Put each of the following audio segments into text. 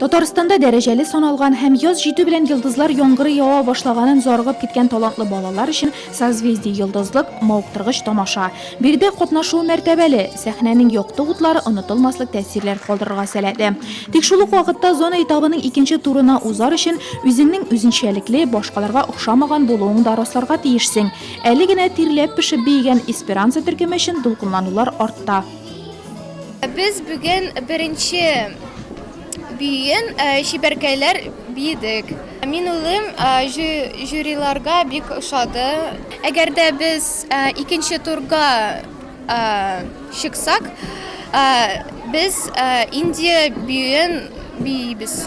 Татарстанда дәрәҗәле саналган һәм яз җитү белән йолдызлар яңгыры ява башлаганын зарыгып киткән талантлы балалар өчен созвездие йолдызлык мавыктыргыч тамаша. Биредә катнашу мәртәбәле, сәхнәнең якты утлары онытылмаслык тәэсирләр калдырырга сәләтле. Тик шул ук вакытта зона этабының икенче турына узар өчен үзеңнең үзенчәлекле, башкаларга охшамаган булуың да расларга тиешсең. Әле генә тирләп-пешеп биегән Эсперанца төркеме өчен дулкынланулар артта. Без бүген беренче биен чибәркәйләр биедек. Мин улым жюриларга бик ошады. Әгәр дә без икенче турга чыксак, без Индия биен биебез.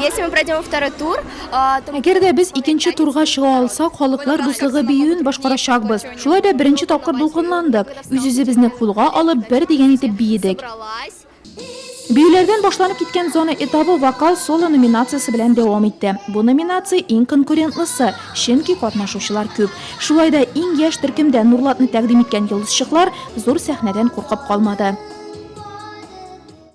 Если мы пройдем во второй тур, то... Әгәр дә без икенче турга чыга алсак, халыклар дуслыгы биюен башкарачакбыз. Шулай да беренче тапкыр дулкынландык. Үз-үзебезне кулга алып, бер дигән итеп биедек. Биюләрдән башланып киткән зона этабы вокал соло номинациясе белән дәвам итте. Бу номинация иң конкурентлысы, чөнки катнашучылар күп. Шулай да иң яшь төркемдә Нурлатны тәкъдим иткән йолдызчыклар зур сәхнәдән куркып калмады.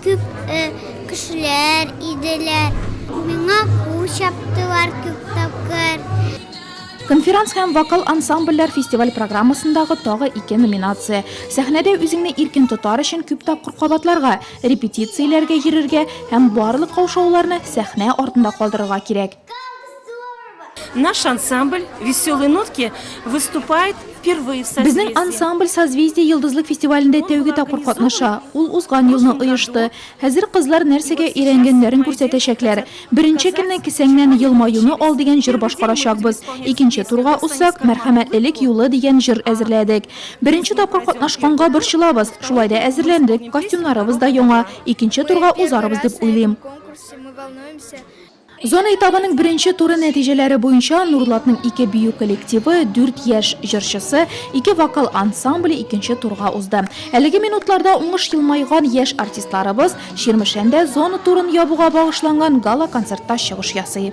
Күп кешеләр иделәр. Миңа кул чаптылар күп тапкыр. Конферанс һәм вокал ансамбльләр фестиваль программасындагы тагы ике номинация. Сәхнәдә үзеңне иркен тотар өчен күп тапкыр кабатларга, репетицияләргә йөрергә һәм барлык каушауларны сәхнә артында калдырырга кирәк. Наш ансамбль «Веселые нотки» выступает впервые в созвездии. Безнең ансамбль «Созвездие йолдызлык фестивалендә тәүге тапкыр катнаша. Ул узган елны оешты. Хәзер кызлар нәрсәгә өйрәнгәннәрен күрсәтәчәкләр. Беренче көнне Кесәңнән елмаюны ал дигән җыр башкарачакбыз. Икенче турга узсак, Мәрхәмәтлелек юлы дигән җыр әзерләдек. Беренче тапкыр катнашканга борчылабыз, шулай да әзерләндек, костюмнарыбыз да яңа. Икенче турга узарбыз дип уйлыйм. Зона этабының беренче туры нәтиҗәләре буенча Нурлатның ике бию коллективы, дүрт яшь җырчысы, ике вокал ансамбле икенче турга узды. Әлеге минутларда уңыш елмайган яшь артистларыбыз Чирмешәндә зона турын ябуга багышланган гала-концертта чыгыш ясый.